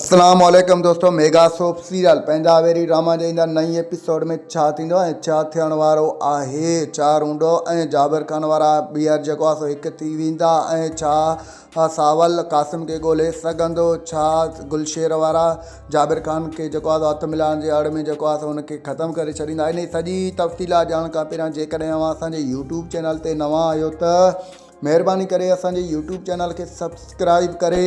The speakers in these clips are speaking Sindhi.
اسلام عليڪم دوستو ميگا سوپ سيريل پنهنجا ويري ڊراما جي ايندڙ نئين ايپيسوڊ ۾ ڇا ٿيندو ۽ ڇا ٿيڻ وارو آهي ڇا رونڊو ۽ جابر خان وارا ٻيهر جيڪو آهي سو هڪ ٿي ويندا ۽ ڇا ساول قاسم کي ڳولهي سگهندو ڇا گلشير وارا جابر خان کي جيڪو آهي سو هٿ ملائڻ جي اڙ ۾ جيڪو آهي سو هن کي ختم ڪري ڇڏيندا انهي سڄي تفصيلات ڄاڻڻ کان پهريان جيڪڏهن اوهان اسان جي يوٽيوب چينل تي نوان آهيو ته مهرباني ڪري اسان جي يوٽيوب چينل کي سبسڪرائيب ڪري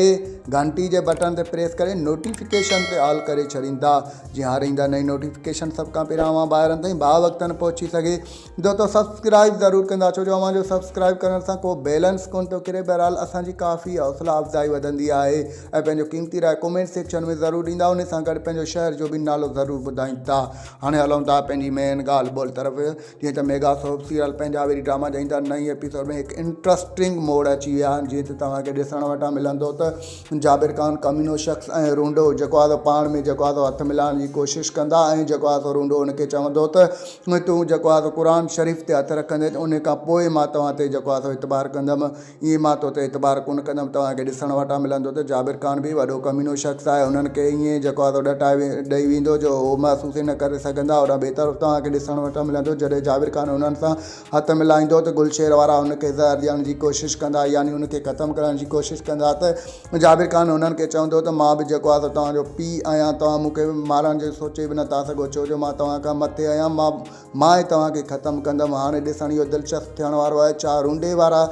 گهنٽي جي بٽڻ تي پريس ڪري نوٽيفڪيشن تي آل ڪري ڇڏيندا جي هر ايندا نئين نوٽيفڪيشن سڀ کان پهريان اوهان ڀائرن تائين ڀا وقتن پهچي سگهي دو تو سبسڪرائيب ضرور ڪندا ڇو جو اوهان جو سبسڪرائيب ڪرڻ سان ڪو بيلنس ڪون ٿو ڪري بهرحال اسان جي ڪافي حوصلا افزائي وڌندي آهي ۽ پنهنجو قيمتي راء ڪومينٽ سيڪشن ۾ ضرور ڏيندا ان سان گڏ پنهنجو شهر جو به نالو ضرور ٻڌائيندا هاڻي هلون ٿا پنهنجي مين ڳالهه ٻولهه طرف جيئن ته ميگا سوپ سيريل پنهنجا وري ڊراما جا ايندا نئين ايپيسوڊ ۾ هڪ انٽرسٽنگ موڙ اچي ويا آهن جيئن ته توهان کي ڏسڻ وٽان ملندو ته جابر خان ڪمينو شخص ۽ رونڊو جيڪو آهي سو پاڻ ۾ جيڪو آهي سو هٿ ملائڻ جي ڪوشش ڪندا ۽ جيڪو آهي سو رونڊو ان کي چوندو ته تون جيڪو آهي سو قرآن شريف تي هٿ رکندين ان کان پوء مان توهان تي جيڪو آهي سو اعتبار ڪندم ايئن مان تو تي اعتبار ڪونه ڪندم توهان کي ڏسڻ وٽان ملندو ته جابر خان به وڏو ڪمينو شخص آهي انهن کي ايئن جهڪو آڌو ڏٽائي ڏئي ويندو جو هو محسوس ئي نه ڪري سگهندا هوڏانهن ٻئي طرف توهان کي ڏسڻ وٽان ملندو جڏهن جابر خان انهن سان هٿ ملائيندو ته گلشير وارا ان کي زهر ڏيڻ جي ڪوشش ڪندا يعني ان کي ختم ڪرڻ جي ڪوشش ڪندا ته جابر خان انهن کي چوندو ته مان به جهڪو آڌو توهان جو پيء آهيان توهان مون کي مارڻ جو سوچي به نه ٿا سگهو ڇو جو مان توهان کان مٿي آهيان مان مان ئي توهان کي ختم ڪندم. هاڻي ڏسڻ اهو دلچسپ ٿيڻ وارو آهي ڇا رونڊي وارا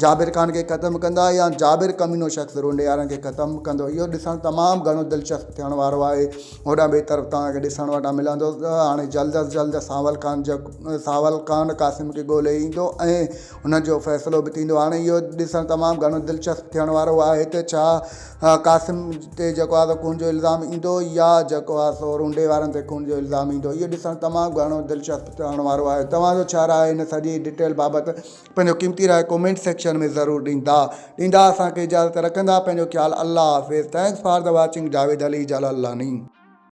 جابر خان کي ختم ڪندا يا جابر ڪمينو شخص رونڊي وارن کي ختم ڪندو اهو ڏسڻ تمام گهڻو دلچسپ ٿيڻ وارو آهي هوڏانهن ٻئي طرف توهان کي ڏسڻ وٽان ملندو ته هاڻي جلد از جلد سانول خان سانول خان قاسم کي ڳولي ايندو ۽ ان جو فيصلو به ٿيندو هاڻي اهو ڏسڻ تمام گهڻو دلچسپ ٿيڻ وارو آهي ته ڇا قاسم تي جيڪو آهي سو خون جو الزام ايندو يا جيڪو آهي سو رونڊي وارن تي خون جو الزام ايندو اهو ڏسڻ تمام گهڻو دلچسپ ٿيڻ وارو آهي توهان جو ڇا راء آهي ان سڄي ڊٽيل بابت پنهنجو قيمتي راء ڪومينٽ سيڪشن ۾ ضرور ڏيندا ڏيندا اسانکي اجازت رکندا پنهنجو خيال الله حافظ thanks for the watching Javed Ali Jalalani.